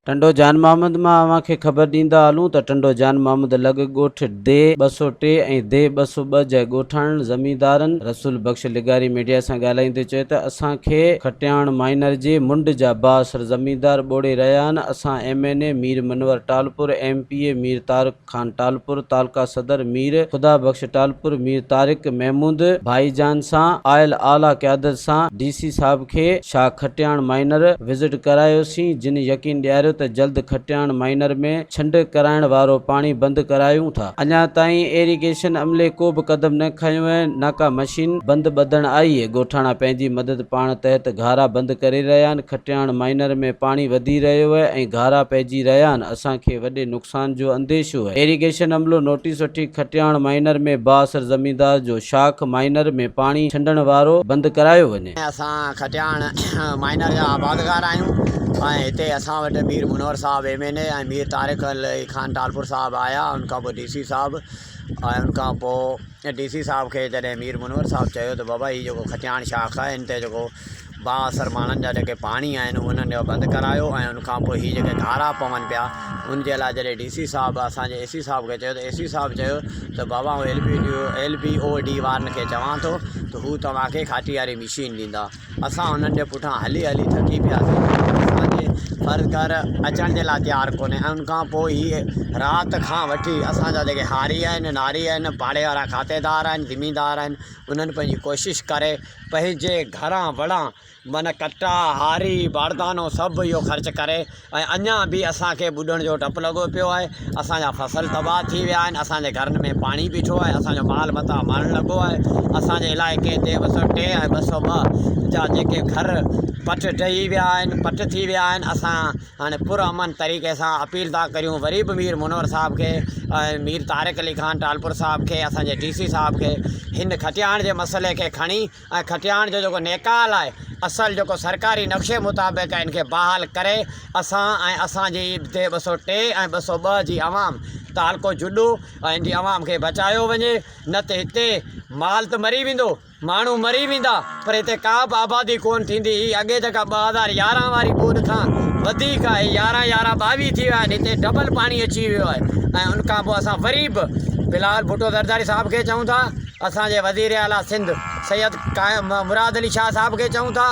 ٽنڊو جان محمد مان اوهان کي خبر ڏيندا هلون ته ٽنڊو جان محمد لڳ ڳوٺ دي ٻه سؤ ٽي ۽ دي ٻه سؤ ٻه جي ڳوٺاڻن زميندارن رسول بخش لغاري ميڊيا سان ڳالهائيندي چيو ته اسان کي کٽياڻ مائنر جي منڊ جا بااثر زميندار ٻوڙي رهيا آهن اسان M N A Mir Manwar Talpur M P A Mir Tariq Khan Talpur تعلقه صدر مير خدا بخش ٽالپر، مير طارق محمود ڀائي جان سان آيل اعليٰ قيادت سان ڊي سي صاحب کي شاهه کٽياڻ مائينر وزٽ ڪرايوسين جن يقين ڏياريو ته جلد کٽياڻ مائينر ۾ ڇنڊ ڪرائڻ وارو پاڻي بند ڪرايون ٿا. اڃا تائين ايريگيشن عملي ڪو به قدم نه کنيو ۽ نه ڪا مشين بند ٻڌڻ آئي ڳوٺاڻا پنهنجي مدد پاڻ تحت گهارا بند ڪري رهيا آهن کٽياڻ مائينر ۾ پاڻي وڌي رهيو ۽ گهارا پئجي رهيا آهن اسان کي وڏي نقصان جو انديشو آهي. ايريگيشن عملو نوٽيس وٺي کٽياڻ مائينر ۾ بااثر زميندار جو شاخ مائينر ۾ پاڻي ڇنڊڻ وارو بند ڪرايو وڃي. اسان کٽياڻ مائينر جا آبادگار آهيون ۽ هتي اسان وٽ مير منور صاحب M N A ۽ Mir Tariq Ali Khan Talpur صاحب آيا ان کان پوء ڊي سي صاحب ۽ ان کان پوء ڊي سي صاحب کي جڏهن مير منور صاحب چيو ته بابا هي جيڪو کٽياڻ شاخ آهي هن تي جيڪو با اثر ماڻهن جا جيڪي پاڻي آهن انهن جو بند ڪرايو ۽ ان کان پوء هي جيڪي گهارا پون پيا ان جي لاء جڏهن ڊي سي صاحب اسان جي اي سي صاحب کي چيو ته اي سي صاحب چيو ته بابا آئون L B D L B O D وارن کي چوان ٿو ته هو توهانکي کاٽي واري مشين ڏيندا اسان انهن جي پٺان هلي هلي ٿڪي پياسي اسانجي فرض گهر اچڻ جي لاء تيار ڪونهي ان کان پوء هي رات کان وٺي اسان جا جيڪي هاري آهن ناري آهن پاڙي وارا کاتيدار آهن زميندار آهن انهن پنهنجي ڪوشش ڪري پنهنجي گهران وڙان من ڪٽا، هاري، باردانو سڀ اهو خرچ ڪري ۽ اڃان به اسان کي ٻڏڻ جو ڊپ لڳو پيو آهي. اسان جا فصل تباهه ٿي ويا آهن، اسان جي گهرن ۾ پاڻي بيٺو آهي، اسان جو مال متاع مرڻ لڳو آهي. اسان جي علائقي تي ٻه سؤ ٽي ۽ ٻه سؤ ٻه جا جيڪي گهر پٽ ڊهي ويا آهن، پٽ ٿي ويا آهن، اسان هاڻي پر امن طريقي سان اپيل ٿا ڪريون وري به مير منور صاحب کي ۽ مير طارق علي خان ٽالپر صاحب کي اسان جي ڊي سي صاحب کي هن کٽياڻ جي مسئلي کي کڻي ۽ کٽياڻ جو جيڪو نيڪال آهي اصل جيڪو سرڪاري نقشي مطابق ان کي بحال ڪري اسان ۽ اسان جي دي ٻه سؤ ٽي ۽ ٻه سؤ ٻه جي عوام تعلقو جڏو ۽ ان جي عوام کي بچايو وڃي نه ته هتي مال ته مري ويندو ماڻهو مري ويندا پر هتي ڪا به آبادي ڪونه ٿيندي هي اڳي جيڪا ٻه هزار يارهن واري ٻوڏ کان وڌيڪ آهي يارهن يارهن ٻاويهه ٿي ويا آهن هتي ڊبل پاڻي اچي ويو آهي ۽ ان کان پوء اسان وري به بلاول ڀٽو زرداري صاحب کي چئون ٿا اسان جي وزير اعلٰي سنڌ سيد قائم مراد علي شاهه صاحب کي چئون ٿا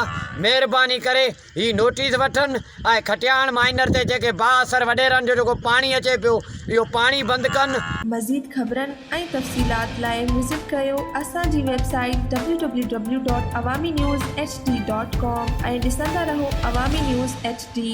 مهرباني ڪري هي نوٽيس وٺن ۽ کٽياڻ مائنر تي جيڪي با اثر وڏيرن جو جيڪو پاڻي اچي پيو اهو پاڻي بند ڪن. مزيد خبرن ۽ تفصيلات لاء وزٽ ڪريو اسان جي website W W W dot Awami news H D dot com ۽ ڏسندا رهو عوامي نيوز ايڇ ڊي.